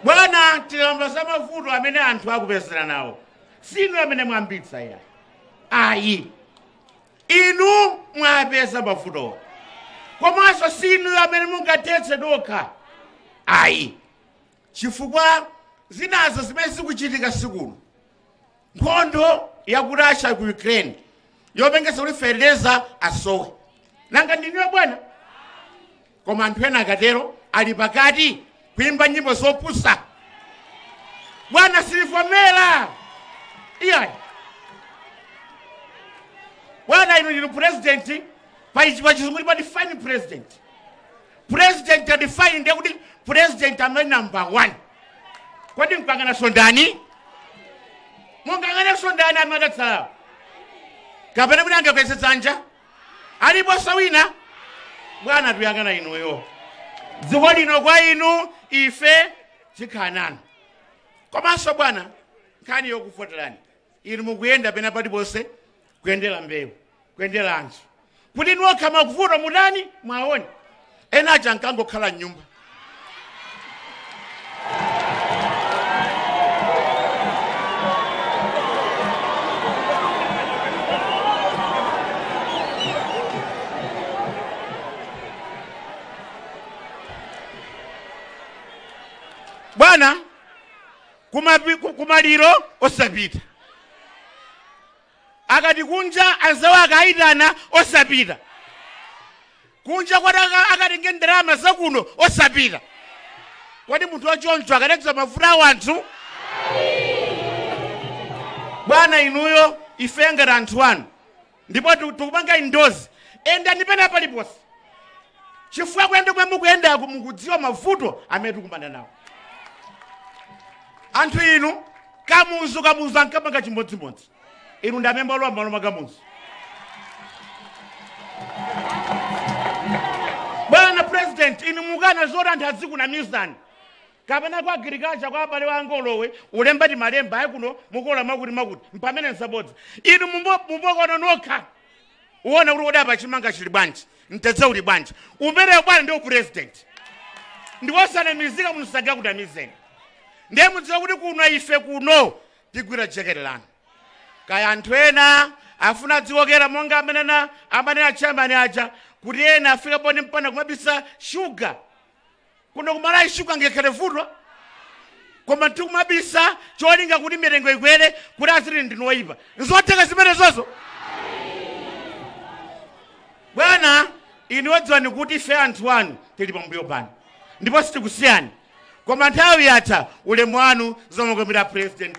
bwana tikamba za mavuto amene anthu akupezera nawo si inu amene mwayambitsa iyayi ayi inu mwapeza mavuto komanso si inu amene mungathetse nokha ayi chifukwa zinazo zimene zikuchitika sikuno nkhondo ya ku russia ku ukraine yopangitsa kuti fertilizer asowe nanga ndi inuyo bwana koma anthu ena akatero ali pakati kuimba nyimbo zopusa bwana silivomera iyayi bwana inu ndi president pachizungu pa define president president ya define ndiye kuti president amene number one kodi mukanganaso ndani mungakanganenso ndani amene adatsalawo kapena kuti angakweze dzanja aliponso wina bwana tuyang'ana inuyo dziko lino kwa inu ife tikhala nanu komanso bwana nkhani yokuvoterani inu mukuyenda pena paliponse kuyendera mbewu kuyendera anthu kuti nokha mavuto mutani mwaone ena aja ankangokhala mnyumba bwana kumapi- ku- kumaliro osapita Akati kunja anzawo akaitana osapita. Kunja koti aka- akatenge ndalama zakuno osapita. Kodi munthu wachoncho akadadziwa mavuto a wanthu? Bwana inuyo ife ngati anthu anu ndipo tiku- tikupanga endorse yendani pena paliponse chifukwa kuyenda komwe mukuyendaku mukudziwa mavuto amene tikumana nawo anthu inu kamuzu kamuzu ankapanga chimodzimodzi inu ndi amene mwalowa m'malo mwa kamuzu bwana president inu mukana zoti anthu azikunamizani kapena kwa agriculture kwa abale wa angolowe ulemba ti malemba ayi kuno mukola makuti makuti mpamene nsabodza inu muku- mukukaona nokha kuwona kuti kodi apa chimanga chili bwanji mtedza uli bwanji umenewo bwana ndi upresident ndikosanamizika munthu sangakunamizeni ndiye mudziwa kuti kuno ife kuno tigwira jekete lanu kaya anthu ena afuna adzikokera monga amene na amene achambani aja kuti ena afika point mpaka kumabisa shuga kuno ku Malawi sugar angakhale vuto koma tikumabisa cholinga kuti mitengo ikwere kuti aziti ndinu oyipa nzotheka zimenezozo bwana inuyo dziwani kuti ife anthu anu tili pambuyo panu ndipo sitikusiyani koma nthawi yatha ulemu wanu zomukomera president